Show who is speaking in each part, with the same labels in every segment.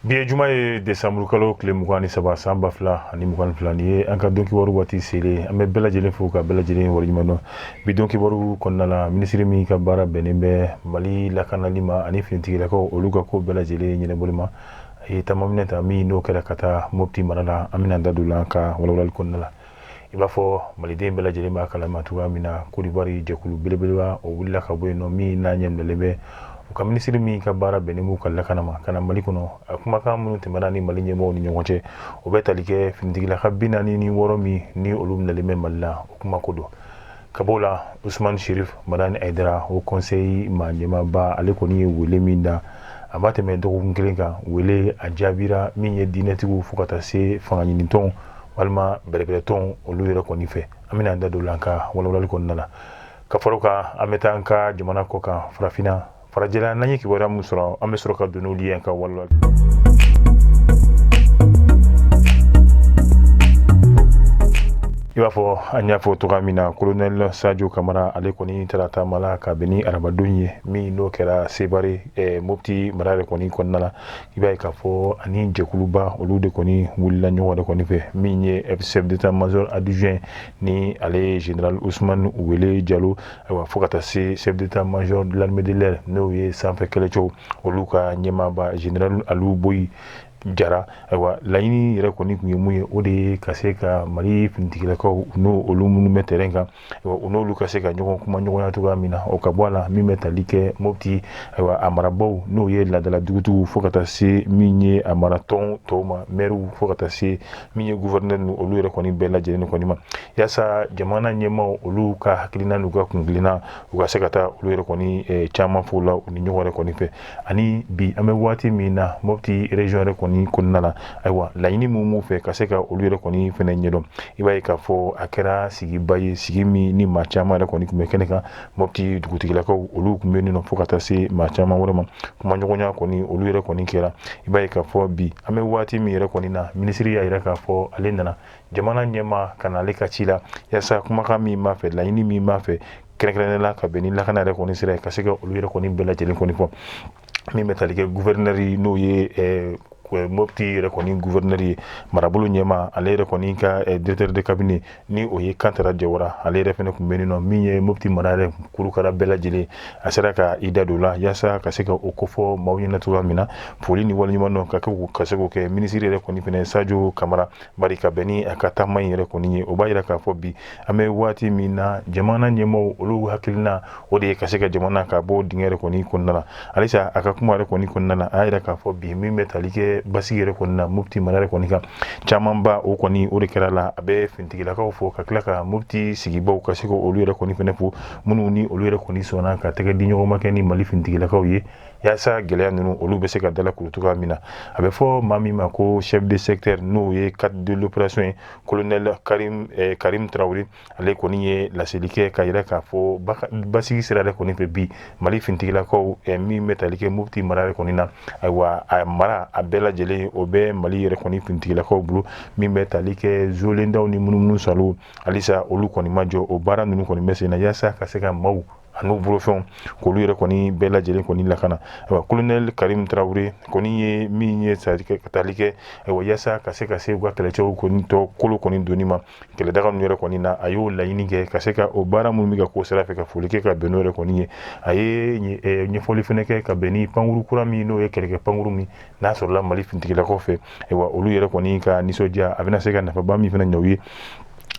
Speaker 1: Bi ye juma ye desanburukalo tile mugan ni saba san ba fila ani mugan ni fila ni ye an ka don kibaru waati selen an bɛ bɛɛ lajɛlen fo ka bɛɛ lajɛlen waleɲuman dɔn bi don kibaru kɔnɔna la minisiri min ka baara bɛnnen bɛ mali lakanali ma ani finitigilakaw olu ka ko bɛɛ lajɛlen ɲɛnabɔli ma a ye taama minɛn ta min n'o kɛra ka taa mopti mara la an bɛna da don la ka walawalali kɔnɔna la i b'a fɔ maliden bɛɛ lajɛlen b'a kalama cogoya min na kodiwari jɛkulu belebeleba o wulila ka bɔ yen nɔ min n'a ɲɛminɛlen bɛ u ka minisiri min ka baara bɛnnen b'u ka lakana ma ka na mali kɔnɔ a kumakan minnu tɛmɛna ni mali ɲɛmɔgɔw ni ɲɔgɔn cɛ o bɛ tali kɛ finitigilaka bi naani ni wɔɔrɔ min ni olu minɛlen bɛ mali la o kuma ko don ka b'o la usman sherif madani aydara haut conseil maa ɲɛmaaba ale kɔni ye wele min da a ma tɛmɛ dɔgɔkun kelen kan wele a jaabira min ye diinɛtigiw fo ka taa se fangaɲinitɔn walima bɛrɛbɛrɛtɔn olu yɛrɛ kɔni fɛ an bɛna an da don la an ka walawalali kɔnɔna la ka fara o kan an bɛ taa an ka jamana kɔ kan farafinna farajɛla n'an ye kibaruya min sɔrɔ an bɛ sɔrɔ ka don n'olu ye an ka walawalali i b'a fɔ an y'a fɔ cogoya min na kolonɛl sajo kamara ale kɔni taara taama la ka bɛn ni arabadon ye min n'o kɛra sevare eh, mopti mara yɛrɛ kɔni kɔnɔna la i b'a ye k'a fɔ ani jɛkuluba olu de kɔni wulila ɲɔgɔn de kɔni fɛ min ye chef d'état major adjoint ni ale ye général ousmane wele jalo ayiwa fo ka taa se chef d'état major de l'armée de l'air n'o ye sanfɛ kɛlɛcɛw olu ka ɲɛmaaba général aliou boyi jara ayiwa laɲini yɛrɛ kɔni tun ye mun ye o de ye ka se ka mali finitigilakaw n'o olu minnu bɛ terɛn kan ayiwa u n'olu ka se ka ɲɔgɔn kumaɲɔgɔnya cogoya min na o ka bɔ a la min bɛ tali kɛ mopti ayiwa a marabaw n'o ye laadala dugutigiw fo ka taa se min ye a maratɔn tɔw ma mɛriw fo ka taa se min ye gouverneur ni olu yɛrɛ kɔni bɛɛ lajɛlen kɔni ma yaasa jamana ɲɛmaaw olu ka hakilina n'u ka kungilinna u ka se ka taa olu yɛrɛ kɔni eh, caman falen u ni ɲɔgɔn yɛrɛ kɔni fɛ ani bi an bɛ waati min na mopti région yɛrɛ kɔni kɔnɔna la ayiwa laɲini min b'u fɛ ka se ka olu yɛrɛ kɔni fɛnɛ ɲɛdɔn i b'a ye k'a fɔ a kɛra sigiba ye sigi min ni maa caman yɛrɛ kɔni tun bɛ kɛnɛ kan mopti dugutigilakaw olu tun bɛ nin nɔ fo ka taa se maa caman wɛrɛ ma kumaɲɔgɔnya kɔni olu yɛrɛ kɔni kɛra i b'a ye k'a fɔ bi an bɛ waati min yɛrɛ kɔni na minisiri y'a yira k'a fɔ ale nana jamana ɲɛmaa ka na ale ka ci la yaasa kumakan min b'a fɛ laɲini min b'a fɛ kɛrɛnkɛrɛnnen la ka bɛn ni lakana yɛrɛ kɔni sira ye ka se ka olu yɛrɛ kɔni bɛɛ lajɛlen kɔni fɔ min bɛ tali kɛ guvɛrinɛri n'o ye eh, eh, mopti yɛrɛ kɔni guvɛrinɛri ye marabolo ɲɛmaa ale yɛrɛ kɔni ka eh, directeur de cabinet ni o ye kantara jawara ale yɛrɛ fɛnɛ tun bɛ nin nɔ min ye mopti mara yɛrɛ kurukara bɛɛ lajɛlen a sera ka i da don la yaasa ka se ka o kofɔ maaw ɲɛna cogoya min na foli ni waleɲuman dɔn ka se k'o kɛ minisiri yɛrɛ kɔni fɛnɛ sajo kamara Bari ka bɛn ni a ka taama in yɛrɛ kɔni ye o b'a yira k'a fɔ bi an bɛ waati min na jamana ɲɛmaaw olu hakilina o de ye ka se ka jamana ka bɔ dingɛ yɛrɛ kɔni kɔnɔna la halisa a ka kuma yɛrɛ kɔni kɔnɔna la a y'a yira k'a fɔ bi min bɛ tali kɛ basigi yɛrɛ kɔni na mopti mara yɛrɛ kɔni kan camanba o kɔni o de kɛra la a bɛ fintigilakaw fo ka tila ka mopti sigibaw ka se ka olu yɛrɛ kɔni fɛnɛ fo minnu ni olu yɛrɛ kɔni sɔnna ka tɛgɛ di ɲɔgɔn ma kɛ ni mali fintigilakaw ye yasa gɛlɛya ninnu olu bɛ se ka dala kuru cogoya min na a bɛ fɔ maa min ma ko chef de secteur n'o ye cadre de l'opération ye colonel karim eh, karim tarawele ale kɔni ye laseli kɛ k'a yira k'a fɔ basigi sira yɛrɛ kɔni fɛ bi mali fintigilakaw eh, min bɛ tali kɛ mopti mara yɛrɛ kɔni na ayiwa a mara a bɛɛ lajɛlen o bɛ mali yɛrɛ kɔni fintigilakaw bolo min bɛ tali kɛ zolendaw ni munumunusaalo halisa olu kɔni ma jɔ o baara ninnu kɔni bɛ sen na yasa ka se ka maaw ani n'u bolofɛnw k'olu yɛrɛ kɔni bɛɛ lajɛlen kɔni lakana ayiwa kolonɛli karimu tarawele kɔni ye min ye tali kɛ ayiwa yasa ka se ka se u ka kɛlɛcɛw kɔni tɔ kolo kɔni doni ma kɛlɛdaga ninnu yɛrɛ kɔni na a y'o laɲini kɛ ka se ka o baara minnu bɛ ka k'o sira fɛ ka foli kɛ ka bɛn n'o yɛrɛ kɔni ye a ye ɲɛfɔli fɛnɛ kɛ ka bɛn ni pankurun kura min n'o ye kɛlɛkɛ pankurun min n'a sɔrɔla mali finitigilakaw fɛ ayiwa olu yɛrɛ kɔni ka nisɔndiya a bɛna se ka nafaba min fɛnɛ ɲɛ u ye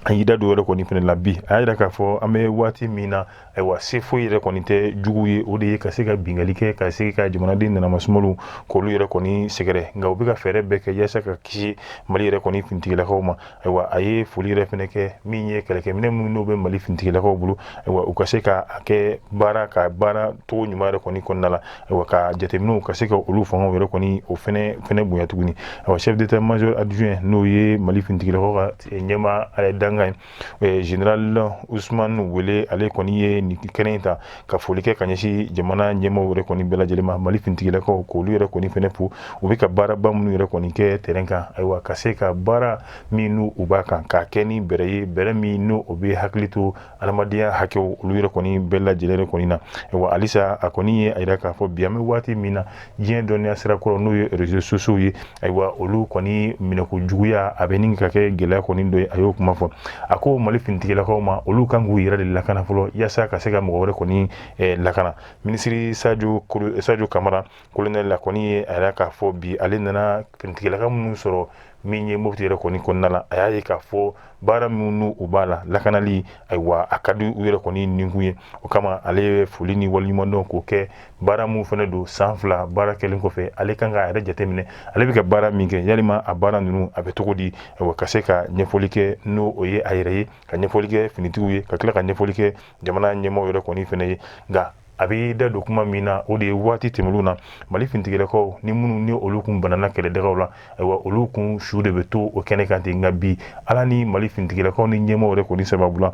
Speaker 1: a y'i da don yɛrɛ kɔni fɛnɛ la bi a y'a yira k'a fɔ an bɛ waati min na ayiwa se foyi yɛrɛ kɔni tɛ jugu ye o de ye ka se ka binkanni kɛ ka se ka jamanaden nanamasumaliw k'olu yɛrɛ kɔni sɛgɛrɛ nka u bɛ ka fɛɛrɛ bɛɛ kɛ yasa ka kisi mali yɛrɛ kɔni finitigilakaw ma ayiwa a ye foli yɛrɛ fɛnɛ kɛ min ye kɛlɛkɛminɛ minnu n'o bɛ mali finitigilakaw bolo ayiwa u ka se ka a kɛ baara ka baara cogo ɲuman yɛrɛ kɔni kɔnɔna la ayiwa ka jateminɛw ka se ka olu fangaw yɛrɛ kɔni o fɛnɛ fɛnɛ bonya tuguni ayiwa chef d'état major adjoint n'o ye mali finitigilakaw ka ɲɛmaa dankan ye général ousmane wele ale kɔni ye nin kɛnɛ in ta ka foli kɛ ka ɲɛsin jamana ɲɛmaaw yɛrɛ kɔni bɛɛ lajɛlen ma mali fintigilakaw k'olu yɛrɛ kɔni fɛnɛ fo u bɛ ka baaraba minnu yɛrɛ kɔni kɛ terrain kan ayiwa ka se ka baara min n'u u b'a kan k'a kɛ ni bɛrɛ ye bɛrɛ min n'o o bɛ hakili to hadamadenya hakɛw olu yɛrɛ kɔni bɛɛ lajɛlen kɔni na ayiwa halisa a kɔni ye a yira k'a fɔ bi an bɛ waati min na diɲɛ dɔnniya sira kura n'o ye réseaux sociaux ye ayiwa olu kɔni minɛko juguya a bɛ ɲini ka kɛ gɛlɛya kɔni dɔ ye a y'o kuma fɔ a ko mali finitigilakaw ma olu kan k'u yɛrɛ de lakana fɔlɔ yasa ka se ka mɔgɔ wɛrɛ kɔni eh, lakana minisiri sajo sajo kamara kolonɛli ale kɔni ye a yira k'a fɔ bi ale nana finitigilaka minnu sɔrɔ min ye mopti yɛrɛ kɔni kɔnɔna la a y'a ye k'a fɔ baara minnu u b'a la lakanali ayiwa a ka di u yɛrɛ kɔni ninkun ye o kama ale ye foli ni waleɲumandɔn k'o kɛ baara minnu fɛnɛ don san fila baara kɛlen kɔfɛ ale kan k'a yɛrɛ jateminɛ ale bɛ ka baara min kɛ yalima a baara ninnu a bɛ cogo di ayiwa ka se ka ɲɛfɔli kɛ n'o o ye a yɛrɛ ye ka ɲɛfɔli kɛ finitigiw ye ka tila ka ɲɛfɔli kɛ jamana ɲɛmaa yɛrɛ kɔni fɛnɛ ye nka a bɛ da don kuma min na o de ye waati tɛmɛlenw na mali finitigilakaw ni minnu ni olu kun banna kɛlɛdagaw la ayiwa olu kun su de bɛ to o kɛnɛ kan ten nka bi ala ni mali finitigilakaw ni ɲɛmaa yɛrɛ kɔni sababu la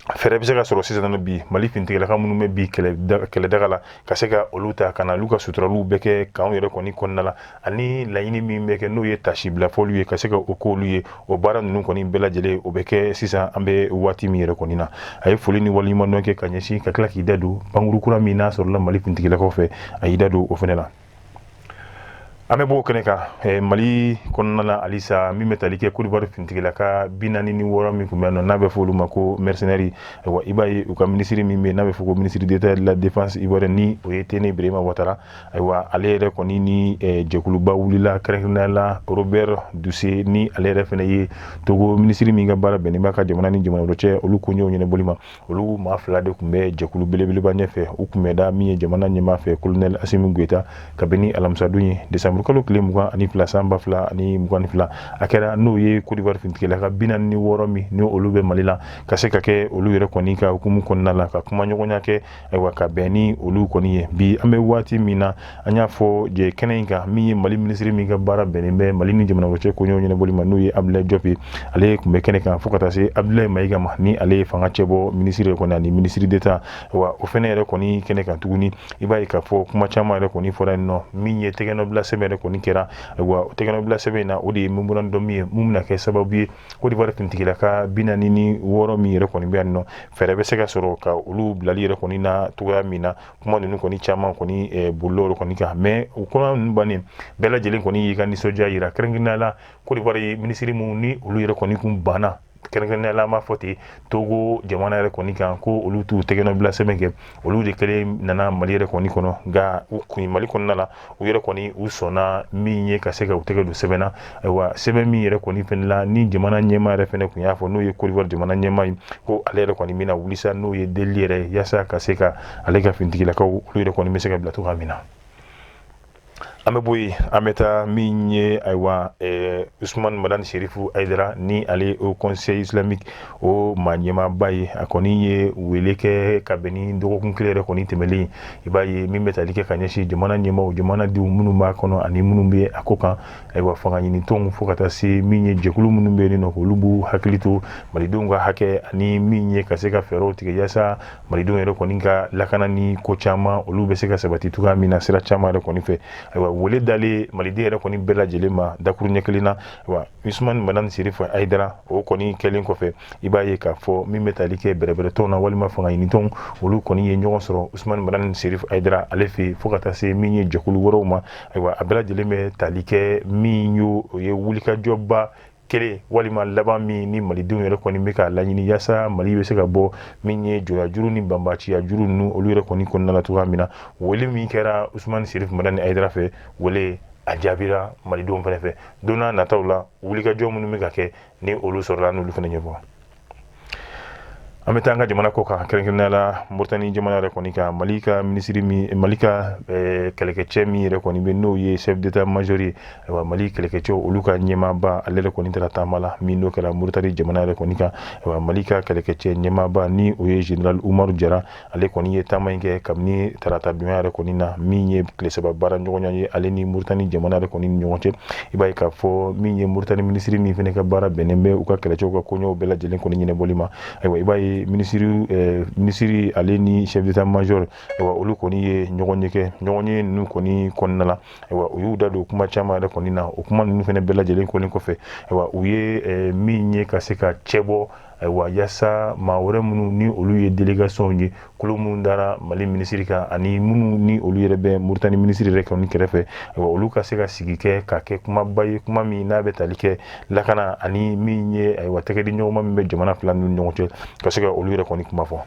Speaker 1: fɛɛrɛ bɛ se ka sɔrɔ sisan bi mali finitigilaka minnu bɛ bin kɛlɛdaga la ka se ka olu ta ka na olu ka suturaliw bɛɛ kɛ kanw yɛrɛ kɔni kɔnɔna la ani laɲini min bɛ kɛ n'o ye tasibila fɔliw ye ka se ka o k'olu ye o baara ninnu kɔni bɛɛ lajɛlen o bɛ kɛ sisan an bɛ waati min yɛrɛ kɔni na a ye foli ni waleɲumandɔn kɛ ka ɲɛsin ka tila k'i da don pankurun kura min n'a sɔrɔla mali finitigilakaw fɛ a y'i da don o fana la an bɛ b'o kɛnɛ kan eh, mali kɔnɔna la halisa min bɛ tali kɛ kodiwari finitigilaka bi naani ni wɔɔrɔ min tun bɛ yan nɔ n'a bɛ fɔ olu ma ko mercenaires ayiwa i b'a ye u ka minisiri min bɛ yen n'a bɛ fɔ ko ministre d'état de la défense ivoirienne ni o ye tene birahima watara ayiwa ale yɛrɛ kɔni ni jɛkuluba wulila kɛrɛnkɛrɛnnenya la Robert Dussey ni ale yɛrɛ fana ye Togo minisiri min ka baara bɛnnen b'a ka jamana ni jamana wɛrɛ cɛ olu koɲɛw ɲɛnabɔli ma olu maa fila de tun bɛ jɛkulu belebeleba ɲɛfɛ u kunbɛnna min ye jamana ɲɛmaa fɛ kolonɛli Asimi Goyita kabini alamisadon ye desanburukalo tile mugan ani fila san ba fila ani mugan ni fila a kɛra n'o ye Kodiwari finitigilaka bi naani ni wɔɔrɔ min ni olu bɛ Mali la ka se ka kɛ olu yɛrɛ kɔni ka hukumu kɔnɔna la ka kumaɲɔgɔnya kɛ ayiwa ka bɛn ni olu kɔni ye bi an bɛ waati min na an y'a fɔ jɛ kɛnɛ in kan min ye mali minisiri min ka baara bɛnnen bɛ mali ni jamana wɛrɛ cɛ koɲɛw ɲɛnabɔli ma n'o ye abdoulaye diop ye ale tun bɛ kɛnɛ kan fo ka taa se abdoulaye maiga ma ni ale ye fanga cɛbɔ minisiri kɔni ani ministre d'état wa o fɛnɛ yɛrɛ kɔni kɛnɛ kan tuguni i b'a ye k'a fɔ kuma caman yɛrɛ kɔni fɔra yen nɔ min ye tɛgɛnɔbila sɛbɛn yɛrɛ kɔni kɛra ayiwa o tɛgɛnɔbila sɛbɛn in na o de ye memorandum min ye min bɛna kɛ sababu ye kodiwari finitigilaka bi naani ni wɔɔrɔ min yɛrɛ kɔni bɛ yan nɔ fɛɛrɛ bɛ se ka sɔrɔ ka olu bilali yɛrɛ kɔni na cogoya min na kuma ninnu kɔni caman kɔni eh, bolila yɔrɔ kɔni kan mɛ o kuma ninnu bannen bɛɛ lajɛlen kɔni y'i ka nisɔndiya yira kɛrɛnkɛrɛnnenya la kodiwari minisiri minnu ni olu yɛrɛ kɔni kun banna kɛrɛnkɛrɛnnenya la an b'a fɔ ten togo jamana yɛrɛ kɔni kan ko olu t'u tɛgɛnɔbila sɛbɛn kɛ olu de kelen nana mali yɛrɛ kɔni kɔnɔ nka u kun mali kɔnɔna la u yɛrɛ kɔni u sɔnna min ye ka se ka u tɛgɛ don sɛbɛn na ayiwa sɛbɛn min yɛrɛ kɔni fɛnɛ la ni jamana ɲɛmaa yɛrɛ fɛnɛ kun y'a fɔ n'o ye kodiwari jamana ɲɛmaa ye ko ale yɛrɛ kɔni bɛna wuli sa n'o ye deli yɛrɛ yaasa ka se ka ale ka finitigilakaw olu yɛrɛ kɔni bɛ se ka bila cogoya min na an bɛ bɔ yen an bɛ taa min ye ayiwa usumani madani serifu ayidara ni ale ye haut conseil islamique o maa ɲɛmaaba ye a kɔni ye wele kɛ ka bɛn ni dɔgɔkun kelen yɛrɛ kɔni tɛmɛlen i b'a ye min bɛ tali kɛ ka ɲɛsin jamana ɲɛmaaw jamanadenw minnu b'a kɔnɔ ani minnu bɛ a kɔkan ayiwa fangaɲinitɔnw fo ka taa se min ye jɛkulu minnu bɛ yen nɔ olu b'u hakili to malidenw ka hakɛ ani min ye ka se ka fɛɛrɛw tigɛ yaasa malidenw yɛrɛ kɔni ka lakana ni ko caman olu bɛ se ka sabati cogoya min na sira caman yɛrɛ kɔni fɛ ayiwa wele dalen maliden yɛrɛ kɔni bɛɛ lajɛlen ma dakuruɲɛ kelen na wa usman madani serifu ayidara o kɔni kɛlen kɔfɛ i b'a ye k'a fɔ min bɛ tali kɛ bɛrɛbɛrɛtɔnw na walima fanga ɲinitɔnw olu kɔni ye ɲɔgɔn sɔrɔ usman madani serifu ayidara ale fɛ fo ka taa se min ye jɛkulu wɛrɛw ma ayiwa a bɛɛ lajɛlen bɛ tali kɛ min y'o o ye wulikajɔba kelen walima laban min ni malidenw yɛrɛ kɔni bɛ k'a laɲini yasa mali bɛ se ka bɔ min ye jɔnyajuru ni banbaciya juru ninnu olu yɛrɛ kɔni kɔnɔna la cogoya min na wele min kɛra usman serifu madani ayidara fɛ wele a jaabira malidenw fana fɛ don n'a nataw la wulikajɔ minnu bɛ ka kɛ ni olu sɔrɔla n'olu fɛnɛ ɲɛfɔ an bɛ taa an ka jamana kɔ kan kɛrɛnkɛrɛnnenya la moritani jamana yɛrɛ kɔni kan mali ka minisiri min mali ka eh, kɛlɛkɛcɛ min yɛrɛ kɔni bɛ n'o ye chef d'état major ye ayiwa mali kɛlɛkɛcɛw olu ka ɲɛmaaba ale yɛrɛ kɔni taara taama la min n'o kɛra moritani jamana yɛrɛ kɔni kan ayiwa mali ka kɛlɛkɛcɛ ɲɛmaaba ni o ye général umaru jara ale kɔni ye taama in kɛ kabini tarata donya yɛrɛ kɔni na min ye tile saba baara ɲɔgɔnya ye ale ni moritani jamana yɛrɛ kɔni ni ɲɔgɔn cɛ i b'a ye k'a fɔ min ye moritani minisiri min fana ka baara bɛnnen bɛ u ka kɛlɛcɛw ka koɲɛw bɛɛ lajɛlen kɔni ɲɛnabɔli ma ayiwa i b'a ye minisiri eh, minisiri ale ni chef d'état major ayiwa olu kɔni ye ɲɔgɔnye kɛ ɲɔgɔnye ninnu kɔni kɔnɔna la ayiwa u y'u da don kuma caman yɛrɛ kɔni na o kuma ninnu fana bɛɛ lajɛlen kɔni kɔfɛ ayiwa u ye eh, min ye ka se ka cɛbɔ ayiwa yasa maa wɛrɛ minnu ni olu ye delegasiyɔnw ye kulu minnu dara mali minisiri kan ani minnu ni olu yɛrɛ bɛ moritani minisiri yɛrɛ kɔni kɛrɛfɛ ayiwa olu ka se ka sigi kɛ ka kɛ kumaba ye kuma min n'a bɛ tali kɛ lakana ani min ye ayiwa tɛgɛdiɲɔgɔnma min bɛ jamana fila ninnu ɲɔgɔn cɛ ka se ka olu yɛrɛ kɔni kuma fɔ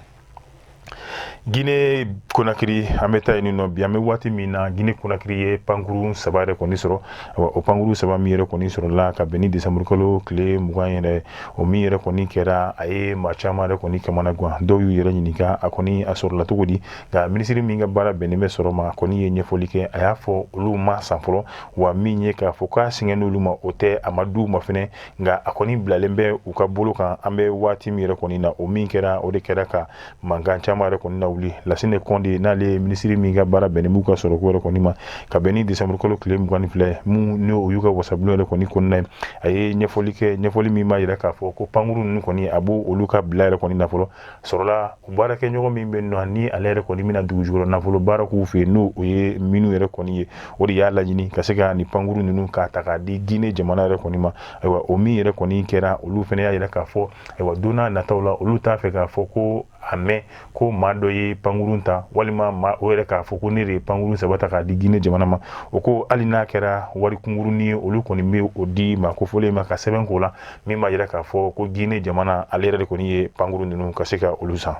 Speaker 1: gine konakiri an bɛ taa yen nɔ bi an bɛ waati min na gine konakiri ye pankuru saba yɛrɛ kɔni sɔrɔ o pankuru saba min yɛrɛ kɔni sɔrɔla ka bɛn ni desanburukalo tile mugan yɛrɛ o min yɛrɛ kɔni kɛra a ye maa caman yɛrɛ kɔni kamana gan dɔw y'u yɛrɛ ɲininka a kɔni a sɔrɔla cogo di nka minisiri min ka baara bɛnnen bɛ sɔrɔ ma a kɔni ye ɲɛfɔli kɛ a y'a fɔ olu m'a san fɔlɔ wa min ye k'a fɔ k'a singana olu ma o tɛ a ma d'u ma fɛnɛ nka a kɔni bilalen bɛ u ka bolo kan an bɛ waati min yɛrɛ kɔni na o min kɛra o de kɛra ka mankan caman yɛrɛ kɔni nawuli lasine kɔnde n'ale ye minisiri min ka baara bɛnnen b'u ka sɔrɔko yɛrɛ kɔni ma ka bɛn ni desanburukalo tile mugan ni fila min ni o y'u ka wasabulon yɛrɛ kɔni kɔnɔna ye a ye ɲɛfɔli kɛ ɲɛfɔli min b'a yira k'a fɔ ko pankuru ninnu kɔni a b'olu ka bila yɛrɛ kɔni na fɔlɔ sɔrɔla baarakɛɲɔgɔn min bɛ nɔ ni ale yɛrɛ kɔni bɛna dugujukɔrɔ nafolo baara k'u fɛ yen n'o o ye minnu yɛrɛ kɔni ye o de y'a laɲini ka se ka nin pankuru ninnu k'a ta k'a di Guinée jamana yɛrɛ kɔni ma ayiwa o min yɛrɛ kɔni kɛra olu fana y'a yira k'a fɔ ayiwa don n'a nataw la olu t'a fɛ k'a fɔ ko a mɛn ko maa dɔ ye pankurun ta walima maa o yɛrɛ k'a fɔ ko ne de ye pankurun saba ta k'a di Guinée jamana ma o ko hali n'a kɛra wari kunkurunnin ye olu kɔni bɛ o di maa kofɔlen ma ka sɛbɛn k'o la min b'a yira k'a fɔ ko gine jamana ale yɛrɛ de kɔni ye pankuru ninnu ka se ka olu san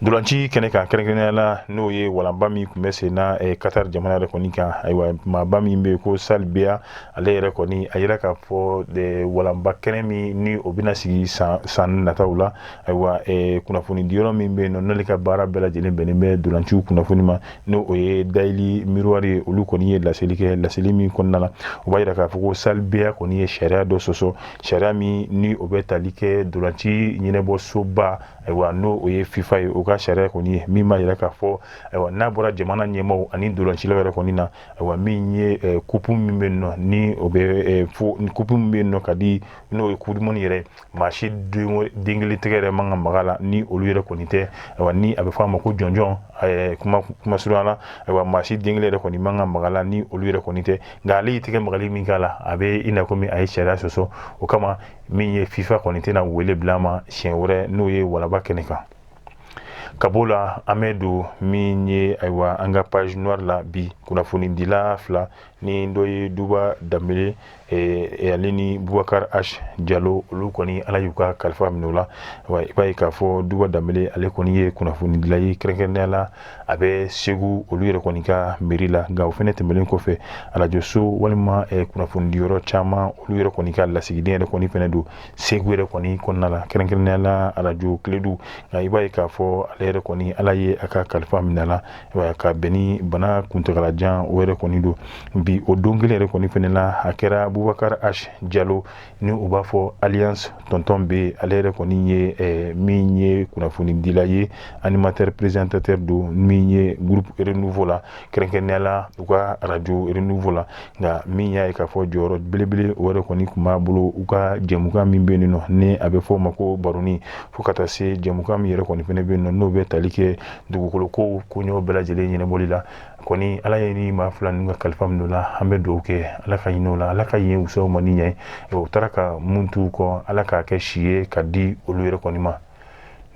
Speaker 1: dolanci kɛnɛ kan kɛrɛnkɛrɛnnenya la n'o ye walanba min tun bɛ sen na eh, Qatar jamana yɛrɛ kɔni kan ayiwa maaba min bɛ ko Sal Biya ale yɛrɛ kɔni a yira k'a fɔ eh, walanba kɛnɛ min ni o bɛna sigi san nataw la ayiwa eh, kunnafoni diyɔrɔ min bɛ yen nɔ n'ale ka baara bɛɛ lajɛlen bɛnnen bɛ dolanciw kunnafoni ma n'o o ye Daily Miroir ye olu kɔni ye laseli kɛ laseli min kɔnɔna na o b'a yira k'a fɔ ko Sal Biya kɔni ye sariya dɔ sɔsɔ sariya min ni o bɛ tali kɛ dolanci ɲɛnɛbɔsoba ayiwa n'o o ye fifa ye o ka sariya kɔni ye min b'a yira k'a fɔ ayiwa n'a bɔra jamana ɲɛmaaw ani dolancilaw yɛrɛ kɔni na ayiwa min ye eh, kupu min bɛ yen nɔ ni o bɛ eh, fo kupu min bɛ yen nɔ ka di n'o ye coupe du monde yɛrɛ maa si den kelen tɛgɛ yɛrɛ man ka maga la ni olu yɛrɛ kɔni tɛ ayiwa ni a bɛ fɔ a ma ko jɔnjɔn eh, kuma kuma surunya la ayiwa maa si den kelen yɛrɛ kɔni man ka maga la ni olu yɛrɛ kɔni tɛ nka ale y'i tɛgɛ magali min k'a la a bɛ i n'a komi a ye sariya sɔsɔ o kama min ye fifa kɔni tɛna wele bila a ma siɲɛ wɛrɛ n'o ye walanba kɛnɛ kan ka b'o la an bɛ don min ye ayiwa an ka page noire la bi kunnafonidila fila ni dɔ ye duba danbele eh, ale ni bubakar h jalo olu kɔni ala y'u ka kalifa minɛ o la wa i b'a ye k'a fɔ duba danbele ale kɔni ye kunnafonidila ye kɛrɛnkɛrɛnnenya la a bɛ segu olu yɛrɛ kɔni ka mairie la nka o fana tɛmɛnen kɔfɛ arajoso walima eh, kunnafoni diyɔrɔ caman olu yɛrɛ kɔni ka lasigiden yɛrɛ kɔni fana don segu yɛrɛ kɔni kɔnɔna la kɛrɛnkɛrɛnnenya la arajo kiledu nka i b'a ye k'a fɔ ale yɛrɛ kɔni ala ye a ka kalifa minɛ la ka bɛn ni bana kuntagalajan o yɛrɛ kɔni don bi o don kelen yɛrɛ kɔni fana na a kɛra bubakar h jalo ni u b'a fɔ alias tɔntɔn B ale yɛrɛ kɔni ye eh, min ye kunnafonidila ye animateur présentateur don min ye groupe Renouveau la kɛrɛnkɛrɛnnenya la u ka arajo Renouveau la nka min y'a ye k'a fɔ jɔyɔrɔ belebele o yɛrɛ kɔni tun b'a bolo u ka jɛmukan min bɛ nɔ ni a bɛ fɔ o ma ko baroni fo ka taa se jɛmukan min yɛrɛ kɔni fana bɛ nɔ n'o bɛ tali kɛ dugukoloko koɲɛw bɛɛ lajɛlen ɲɛnɛbɔli la kɔni ala ye ni maa fila ninnu ka kalifa minɛ o la an bɛ dugawu kɛ ala ka ɲin'o la ala ka yen wusa u ma ni yan ye u taara ka min t'u kɔ ala k'a kɛ si ye ka di olu yɛrɛ kɔni ma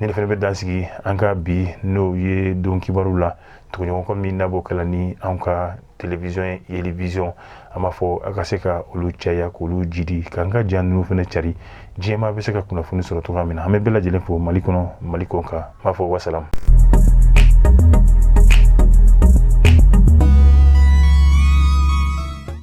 Speaker 1: nin de fana bɛ dan sigi an ka bi n'o ye don kibaru la tuguɲɔgɔnkɔ min n'a b'o kɛ la ni an ka télévision yelivision an b'a fɔ a ka se ka olu caya k'olu jidi k'an ka ja ninnu fana cari diɲɛmaa bɛ se ka kunnafoni sɔrɔ cogoya min na an bɛ bɛɛ lajɛlen fo mali kɔnɔ mali kɔkan n b'a fɔ wasalamu